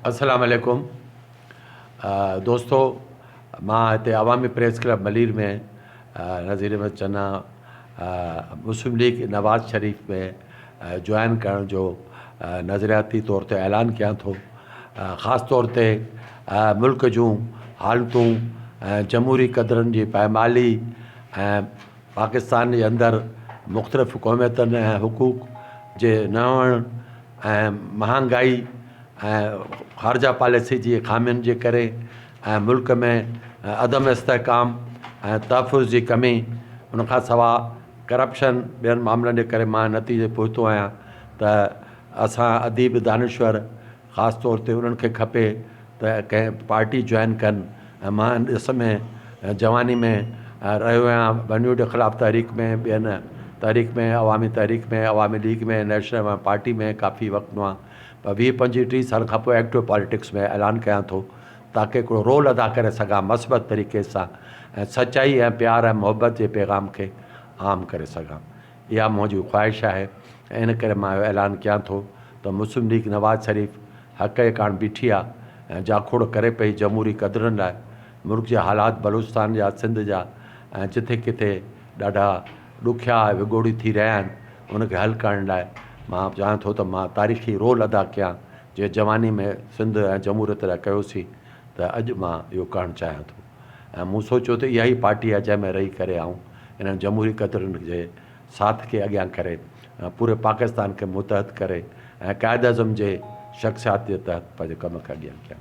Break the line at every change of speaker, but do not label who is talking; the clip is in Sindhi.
السلام عليڪم دوستو مان هتي عوامي press club Malir ۾ Nazir Ahmed Channa Muslim League Nawaz Sharif ۾ join ڪرڻ جو نظرياتي طور تي اعلان ڪيان ٿو خاص طور تي ملڪ جون حالتون جمهوري قدرن جي پائمالي پاڪستان جي اندر مختلف قوميتن ۽ حقوق جي نه هئڻ ۽ مهانگائي ۽ خارجه پاليسي جي خامين جي ڪري ۽ ملڪ ۾ عدم استحڪام ۽ تحفظ جي ڪمي ان کان سوا ڪرپشن ٻين معاملن جي ڪري مان نتيجي پهتو آهيان ته اسان اديب دانشور خاص طور تي انهن کي کپي ته ڪنهن پارٽي جوائن ڪن ۽ مان ان ڏس ۾ جواني ۾ رهيو آهيان ٻنهيوٽ خلاف تحريڪ ۾ ٻين تحريڪ ۾ عوامي تحريڪ ۾ عوامي ليگ ۾ نيشنل عوامي پارٽي ۾ ڪافي وقت مان پر ويهه پنجويهه ٽيهه سالن کان پوء ايڪٽو پاليٽڪس ۾ اعلان ڪيان ٿو تاڪي هڪڙو رول ادا ڪري سگهان مثبت طريقي سان ۽ سچائي ۽ پيار ۽ محبت جي پيغام کي عام ڪري سگهان. اها منهن جي خواهش آهي ۽ ان ڪري مان اهو اعلان ڪيان ٿو ته مسلم ليگ نواز شريف حق جي ڪاڻ بيٺي آهي ۽ جاکوڙ ڪري پئي جمهوري قدرن لاء ملڪ جا حالات بلوچستان جا سنڌ جا ۽ جٿي ڪٿي ڏاڍا ڏکيا ۽ وڳوڙي ٿي رهيا آهن ان کي حل ڪرڻ لاء مان چاهيان ٿو ته مان تاريخي رول ادا ڪيان جيئن جواني ۾ سنڌ ۽ جمهوريت لاء ڪيوسين ته اڄ مان اهو ڪرڻ چاهيان ٿو ۽ مون سوچيو ته اها ئي پارٽي آهي جنهن ۾ رهي ڪري آئون انهن جمهوري قدرن جي ساٿ کي اڳيان ڪري پوري پاڪستان کي متحد ڪري ۽ قائد اعظم جي شخصيات جي تحت پنهنجو ڪم اڳيان ڪيان.